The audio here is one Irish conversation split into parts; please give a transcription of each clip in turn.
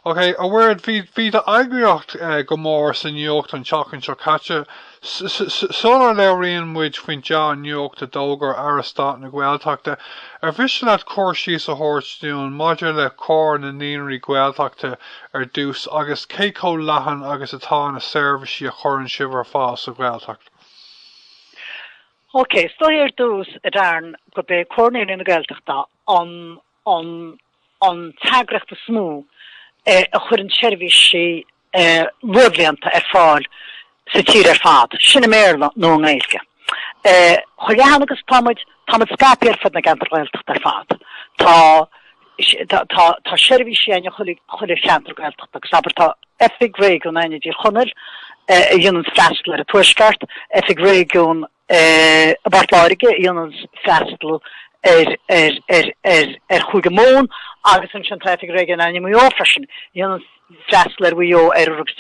Ok, a Mhairéad, bhí, bhí d'eagraíocht eh, go mór sa nuacht an tseachtain seo caite. S- s- s- Sular labhraíonn muid faoin dea-nuacht a d'fhógair Aire Stáit na Gaeltachta, ar mhiste leat cur síos a thabhairt dúinn maidir le Comhar na Naíonraí Gaeltachta ar dtús agus cé chomh leathan agus atá na seirbhísí a chuireann sibh ar fáil sa Ghaeltacht? Ok, is dóigh ar dtús a Darren go b'é Comhar Naíonraí na Gaeltachta an an an t-eagraíocht is mó a chuireann seirbhísí luathbhlianta ar fáil sa tír ar fad, sin i mBéarla nó i nGaeilge. Chomh leathan agus atá muid, tá muid scaipthe ar fud na gceantar Gaeltachta ar fad. Tá seirbhísí againn i chuile cheantar Gaeltachta agus abair tá oifig réigiúin againn i dTír Chonaill a dhéanann freastal ar an tuaisceart, oifig réigiúin I bPort Láirge dhéananns freastal ar Chúige Mumhan agus ansin tá oifig réigiúin againn i Maigh Eo freisin. Dhéananns freastal ar Mhaigh Eo, Oirthear agus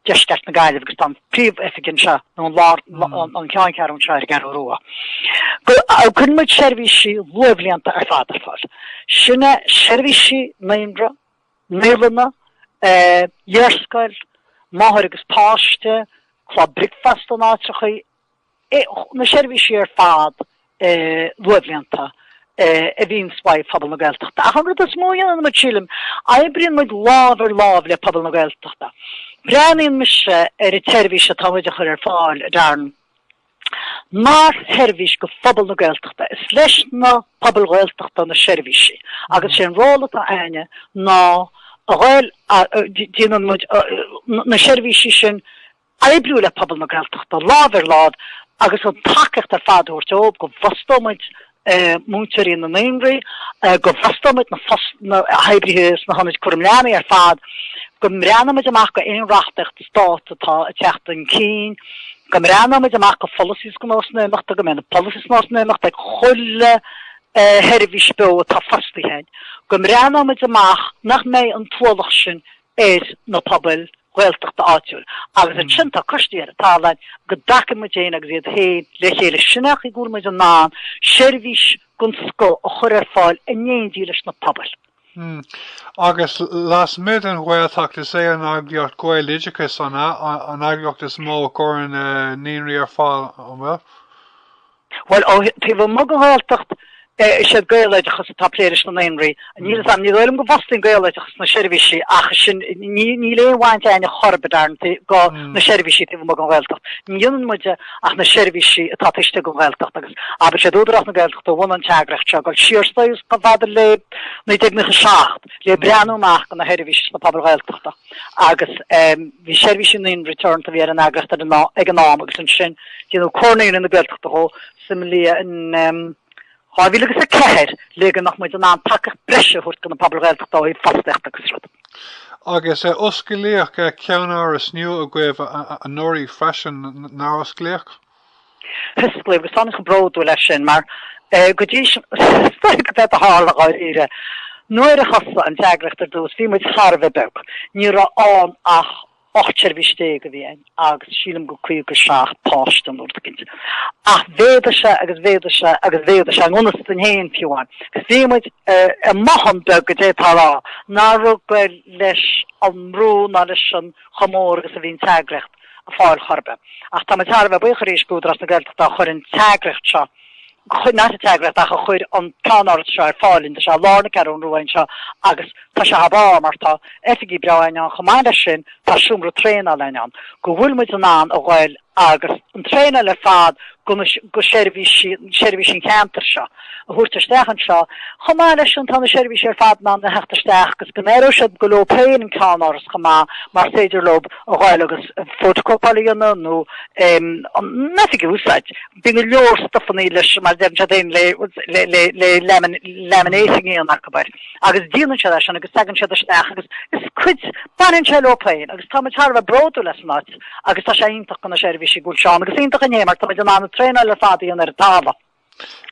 Deisceart na Gaillimhe agus tá an príomhoifig anseo, nó an ceanncheathrú anseo ar an gCeathrú Rua. Cuireann muid seirbhísí luathbhlianta ar fad ar fáil. Sin é seirbhísí naíonra, Naíolanna, iarscoil, máthair agus páiste, club bricfeasta in áiteacha, na seirbhísí ar fad luathbhlianta a bhíonns uaidh phobal na Gaeltachta. Ach an rud is mó dhéanann muid sílim, oibríonn muid lámh ar lámh le pobal na Gaeltachta. Breathnaíonn mise ar an tseirbhís atá muid a chur ar fáil a Darren, mar sheirbhís do phobal na Gaeltachta. Is leis na pobail Ghaeltachta na seirbhísí agus is é an ról atá againne ná go bhfuil muid in ann na seirbhísí sin a oibriú le pobal na Gaeltachta lámh ar láimh agus an tacaíocht ar fad a thabhairt dóibh go bhfostóidh muid múinteoirí na naíonraí, go bhfostaímid na hoibrithe sna hionaid cúraim leanaí ar fad, go mbreathnaímid amach go aon reachtaíocht stáit atá ag teacht chun cinn, go mbreathnaímid amach go pholasaithe is go nósanna imeachta, go mbeidh na polasaithe is nósanna imeachta ag chuile sheirbhís beo atá fostaithe, go mbreathnaímid amach nach mbeidh an t-ualach sin ar na pobail Ghaeltachta áitiúil agus ansin tá coistí ar an talamh go dtagann muid féin agus iad féin le chéile sin é an chaoi go bhfuil muid in ann seirbhís den scoth a chur ar fáil in éindí leis na pobail. Agus lasmuigh den Ghaeltacht is é an eagraíocht Gaeloideachas an eagraíocht is mó a chuireann naíonraí ar fáil, an bhfuil? Bhuel, taobh amuigh den Ghaeltacht, is iad Gaeloideachas atá ag plé leis na naíonraí. Níl fhios a'm, ní dóigh liom go bhfostaíonn Gaeloideachas na seirbhísí ach sin, níl aon bhaint againne chor ar bith, dar ndóigh, go na seirbhísí taobh amuigh den Ghaeltacht. Ní dhéanann muide ach na seirbhísí atá taobh istigh den Ghaeltacht agus abair is iad Údarás na Gaeltachta a bhunaigh an t-eagraíocht seo, ag dul siar is dóigh chomh fada le 1997, le breathnú amach go na seirbhísí sna pobail Ghaeltachta. agus bhí Seirbhísí Naíonraí Teoranta a bhí ar an eagraíocht ag an am agus ansin déanadh Comhar Naíonraí na Gaeltachta dhó sa mbliain 2004. Le go mbeadh muid in ann tacaíocht breise a thabhairt do na pobail Ghaeltachta ó thaobh fostaíochta agus rud. Agus osclaíodh ceannáras nua agaibh anuraidh freisin, nár osclaíodh? Hosclaíodh agus iontach bródúil as sin mar go dtí is dóigh gurb é a tharla dháiríre. Nuair a thosaigh an t-eagraíocht ar dtús bhí muid thar a bheith beag, ní raibh ann ach ocht seirbhís déag a bhí ann agus sílim go caoga seacht páiste nó rud eicínt. Ach mhéadaigh sé agus mhéadaigh sé agus mhéadaigh sé in ionastain féin fiú amháin. Bhí muid i mbothán beag d'fhéadfá a rá nach raibh ag dul leis an mbrú ná leis an chomh mór agus a bhí an t-eagraíocht. ag fáil chor ar bith. Ach táimid thar a bheith buíoch arís d'Údarás na Gaeltachta a chuir an t-eagraíocht seo, ní an t-eagraíocht ach a chuir an ceannáras seo ar fáil dúinn. Tá sé i lár na Ceathrún Rua anseo agus tá sé thar barr mar tá oifigí breá againn ann. Chomh maith leis sin tá seomra traenála againn ann go bhfuil muid in ann a dhul agus an traenáil ar fad go seirbhísí an cheantair seo. a thabhairt isteach anseo, chomh maith leis sin tá na seirbhísí ar fad in ann a theacht isteach agus go n-aireoidh siad gur leo féin an ceannáras chomh maith mar is féidir leo a dhul agus photocopáil a dhéanamh nó an oifig a úsáid. Bíonn go leor stufanna leis mar deireann siad féin le laminating a dhéanamh acu, abair, agus déanann siad é sin agus tagann siad isteach agus is cuid, baineann sé leo féin agus táimid thar a bheith bródúil as an áit agus tá sé iontach do na seirbhísí go bhfuil sé ann agus iontach dúinn féin mar táimid in ann an traenáil ar fad a dhéanamh ar an talamh.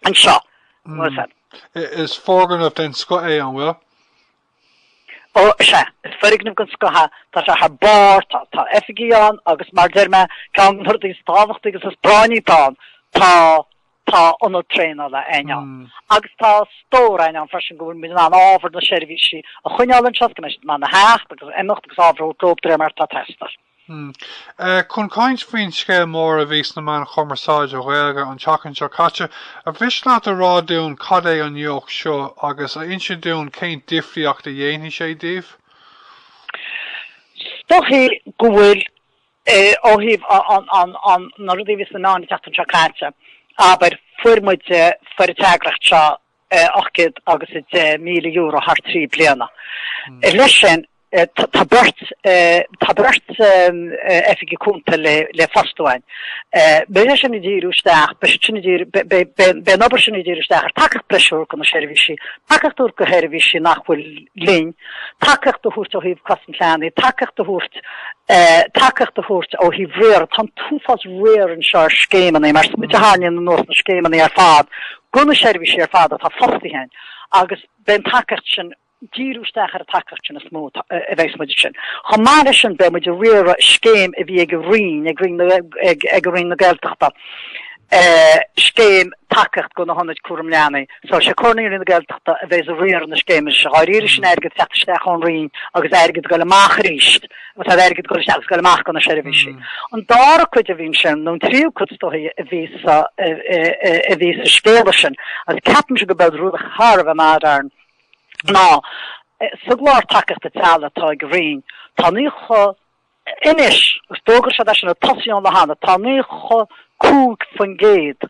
Anseo. Mm. Is foirgneamh den scoth é an bhfuil? Ó, sea, is foirgneamh den scoth é. Tá sé thar barr, tá, tá oifigí ann agus mar deir mé, ceann de na rudaí is tábhachtaí agus is práinní atá ann, tá, tá ionad traenála againn ann. Mm. Agus tá stór againn ann freisin go bhfuil muid in ann ábhar na seirbhísí a choinneáil anseo, go mbeidh siad in ann a theacht agus a imeacht agus ábhar a thabhairt leo de réir mar atá ag teastáil. Chun caint faoin scéal mór a bhí sna meáin chumarsáide Ghaeilge an tseachtain seo caite, ar mhiste leat a rá dúinn cad é an nuacht seo agus a inse dúinn cén difríocht a dhéanfaidh sé daoibh? Is dóichí go bhfuil ó thaobh na rudaí a bhí sna meáin an tseachtain seo caite, abair, fuair muide, fuair an t-eagraíocht seo, €810,000 thar trí bliana. Leis sin, tá beirt oifigigh cúnta le fostú againn. Beidh sé sin ag díriú isteach, beidh siad sin ag díriú, beidh an obair sin ag díriú isteach ar tacaíocht breise a thabhairt do na seirbhísí, tacaíocht a thabhairt do sheirbhísí nach bhfuil linn, tacaíocht a thabhairt ó thaobh cosaint leanaí, tacaíocht a thabhairt, tacaíocht a thabhairt ó thaobh riaradh. Tá an t-uafás riar anseo ar scéimeanna, mar is muid a tharraingíonn anuas na scéimeanna ar fad Go na seirbhísí ar fad atá fostaithe againn agus beidh an tacaíocht sin, díriú isteach ar an tacaíocht sin is mó a bheas muid air sin. Chomh maith leis sin beidh muid ag riaradh scéim a bhí ag an Roinn, ag an Roinn na Gaeltachta, scéim tacaíocht do na hionaid cúram leanaí. So sé Comhar Naíonraí na Gaeltachta a bheas ag riaradh na scéime sin. Dáiríre sin airgead a theacht isteach ón Roinn agus airgead a ghoil amach aríst atá ar airgead dul isteach agus dul amach go na seirbhísí. An dara cuid a bhí ansin, nó an tríú cuid is dóichí a bhí sa a bhí sa scéala sin, agus ceapaimse go b'eod rud thar a bheith maidrearn, ná, sa gclár tacaíochta teaghlaigh atá ag an Roinn, tá naocha, anois, d'fhógair sé é sin a tosaíonn le hannamh, tá 95%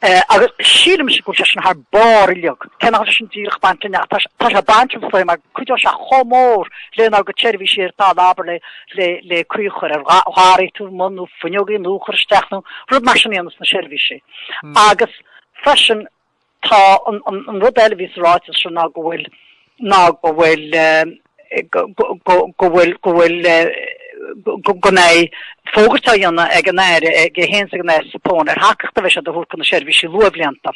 agus sílim go bhfuil sé sin thar barr uilig, cé nach bhfuil sé sin díreach baint linn ach tá sé baint linn is dóigh mar cuideoidh sé chomh mór lenár gcuid seirbhísí ar fad abair le caoi a chur ar gharraí taobh amuigh nó fuinneogaí nua a chur isteach nó rud mar sin a dhéanamh sna seirbhísí agus freisin tá an rud eile a bhí sa ráiteas ná go bhfuil go bhfuil go bhfuil go mbeidh fógairt á dhéanamh ag an Aire aige féin is ag an Aire Zappone ar thacaíocht a bheas siad a thabhairt go na seirbhísí luathbhlianta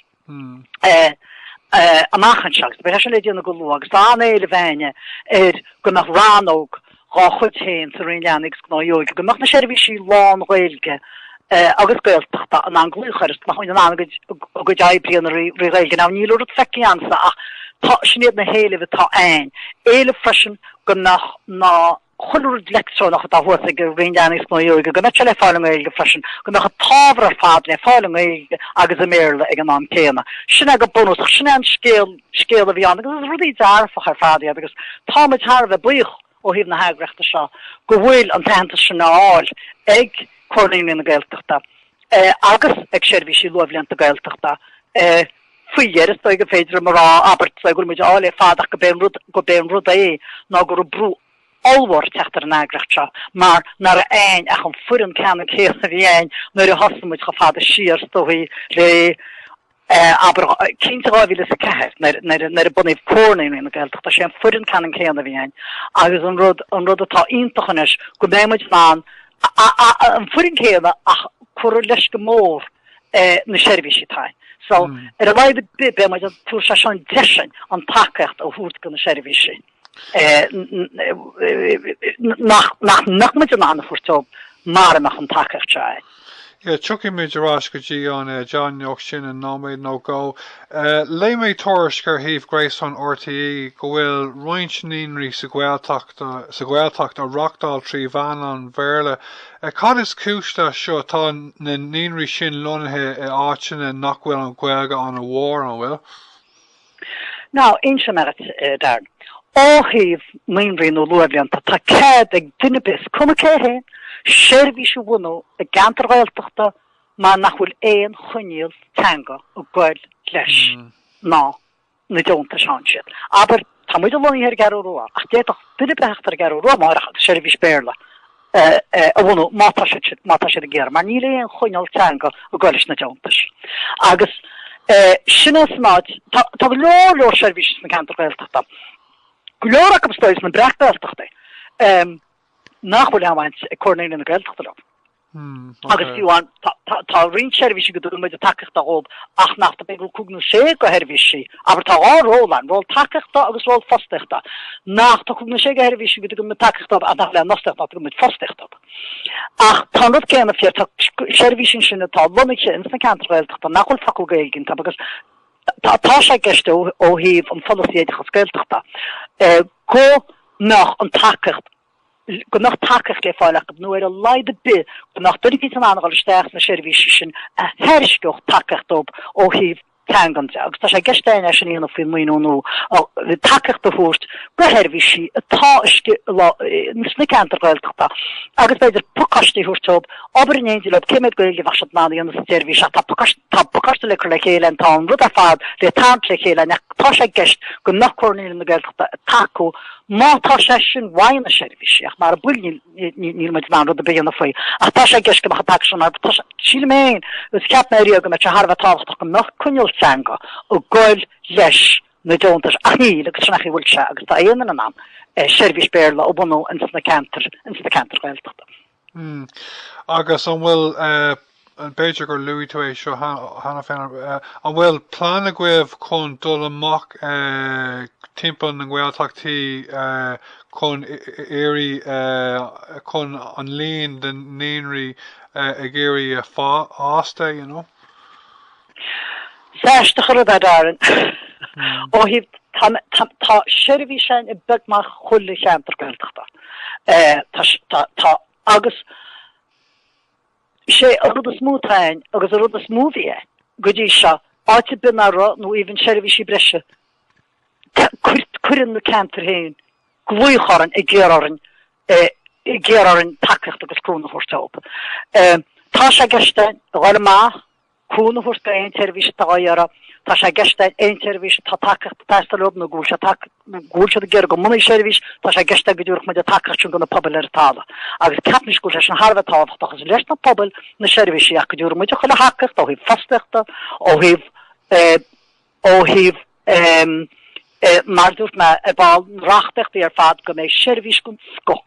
amach anseo agus beidh sé sin le déanamh go luath agus an t-éileamh a bhí againne air go mbeadh rannóg dhá chuid féin sa Roinn Leanaí agus Gnóthaí Óige go mbeadh na seirbhísí lán-Ghaeilge agus Gaeltachta in ann glaoch air is go mbeadh siad in ann a gcuid oibre a dhéanamh trí Ghaeilge. Now níl aon rud feicthe againn fós ach tá, sin iad na héilimh atá againn. Éileamh freisin go mbeadh chuile rud leictreonach atá thuas ag an Roinn Leanaí is Gnóthaí Óige, go mbeadh sé le fáil i nGaeilge freisin, go mbeadh an t-ábhar ar fad le fáil i nGaeilge agus i mBéarla ag an am céanna. Sin é go bunúsach, sin é an scéal a bhí ann agus is rudaí dearfach ar fad iad agus táimid thar a bheith buíoch ó thaobh na heagraíochta seo go bhfuil an t-aitheantas sin á fháil ag Comhar Naíonraí na Gaeltachta agus ag seirbhísí luathbhlianta Gaeltachta. Faoi dheireadh, is dóigh gur féidir liom a rá, abair, go bhfuil muid á fháil ar fad ach gurb é an rud é ná go raibh brú ollmhór ag teacht ar an eagraíocht seo mar nach raibh againn ach an foireann ceannann céanna a bhí againn nuair a thosaigh muid chomh fada siar is dóigh le Abair, cinnte 2004, nuair a bunaíodh Comhar Naíonraí na Gaeltachta, sé an foireann ceannann céanna a bhí ann agus an rud, an rud atá iontach anois go mbeidh muid in ann an foireann céanna ach cuireadh leis go mór na seirbhísí atá ann. So, ar a laghad ar bith beidh muid, tabharfaidh sé sin deis dúinn an tacaíocht a thabhairt do na seirbhísí. nach mbeadh muid in ann a thabhairt dóibh mara mbeadh an tacaíocht seo ann. Yeah, tiocfaidh muid ar ais go dtí an deimhneacht sin in nóiméad nó dhó. Léigh mé tuairisc ar shuíomh gréasáin RTÉ go bhfuil roinnt naíonraí sa Ghaeltacht á reáchtáil trí mheán an Bhéarla. Cad is cúis leis seo? Tá na naíonraí sin lonnaithe i áiteanna nach bhfuil an Ghaeilge an-mhór, an bhfuil? Now, inseoidh mé dhuit, Darren. Ó thaobh naíonraí nó luathbhlianta, tá cead ag duine ar bith, cuma cé hé féin, seirbhís a bhunú i gceantar Gaeltachta mar nach bhfuil aon choinníoll teanga ag goil leis na, na deontais a fhaigheann siad. Abair, tá muide lonnaithe ar an gCeathrú Rua, ach d'fhéadfadh duine ar bith a theacht ar an gCeathrú Rua amárach agus seirbhís Béarla a bhunú má tá siad sin, má tá siad dhá iarraidh, mar níl aon choinníoll teanga ag goil leis na deontais. Agus sin é san áit, tá, tá go leor, leor seirbhísí sna ceantair Ghaeltachta, go leor acu, is dóigh, sna Breac-Ghaeltachtaí, nach bhfuil aon bhaint ag Comhar Naíonraí na Gaeltachta leo. Agus fiú amháin, Tá roinnt seirbhísí go dtugann muid an tacaíocht dóibh ach nach tá, b'fhéidir cúig nó sé de sheirbhísí, abair tá dhá ról ann, ról tacaíochta agus ról fostaíochta, nach tá cúig nó sé de sheirbhísí go dtugann muid tacaíocht dóibh ach nach bhfuil aon fhostaíocht nach dtugann muid fostaíocht dóibh. Ach tá an rud céanna fíor, tá seirbhísí ansin atá lonnaithe ins na ceantair Ghaeltachta nach bhfuil focal Gaeilge iontu agus tá sé i gceist ó thaobh an pholasaí oideachas Gaeltachta go mbeadh an tacaíocht go mbeadh tacaíocht le fáil acu nó ar a laghad ar bith go mbeadh duine eicínt in ann dul isteach sna seirbhísí sin a thairisceodh tacaíocht dóibh ó thaobh teangan de agus tá sé i gceist againn é sin a dhéanamh faoin maoiniú nó tacaíocht a thabhairt do sheirbhísí atá sna ceantair Ghaeltachta agus b'fhéidir pacáistí a thabhairt dóibh, obair in éindí leo, cén méid Gaeilge a bheadh siad in ann a dhéanamh sa tseirbhís ach tá pacáiste le cur le chéile againn, tá an rud ar fad le tarraingt le chéile ann ach tá sé i gceist go mbeadh Comhar Naíonraí na Gaeltachta ag tacú Má tá sé sin uathu, na seirbhísí ach mara bhfuil níl muid in ann rud ar bith a dhéanamh faoi ach tá sé i gceist go mbeadh an pacáiste ann mar sílim féin agus cheap mé ariamh go mbeadh sé thar a bheith tábhachtach go mbeadh coinníoll teanga ag goil leis na deontais ach níl agus sin é an chaoi a bhfuil sé agus tá aon duine in ann seirbhís Béarla a bhunú ins na ceantair Ghaeltachta. Mm. Agus an bhfuil, eh, b'fhéidir gur luaigh tú é seo cheana féin, eh, an bhfuil plean agaibh chun dul amach, eh, timpeall na nGaeltachtaí, eh, chun iarraidh, eh, chun an líon de naíonraí, eh, ag iarraidh a fásta, you know? Sásta cur ar Údarás ó thaobh tá seirbhís ann i mbeagnach chuile cheantar Gaeltachta tá agus sé a rud is mó atá ann agus a rud is mó bhí ann go dtí seo áit a mbíonn athrú nó a mbíonn seirbhísí breise cuireann na ceantar féin glaoch orainn ag iarraidh orainn ag iarraidh orainn tacaíocht agus cúnamh a thabhairt dóibh. Tá sé i gceist againn, go mba mhaith, cúnamh a thabhairt d'aon tseirbhís atá á iarraidh. Tá sé i gceist aon tseirbhís atá tagtha taistil orthu nó go bhfuil sé tagtha nó go bhfuil siad ag iarraidh go mbunófaí seirbhís, tá sé i gceist go dtabharfadh muid an tacaíocht sin do na pobail ar an talamh. Agus ceapaimid go bhfuil sé sin thar a bheith tábhachtach. Is leis na pobail na seirbhísí ach go dtabharfadh muid chuile thacaíocht ó thaobh fostaíochta, ó thaobh eh, ó thaobh eh, mar dúirt mé ar ball reachtaíochtaí ar fad go mbeidh seirbhís den scoth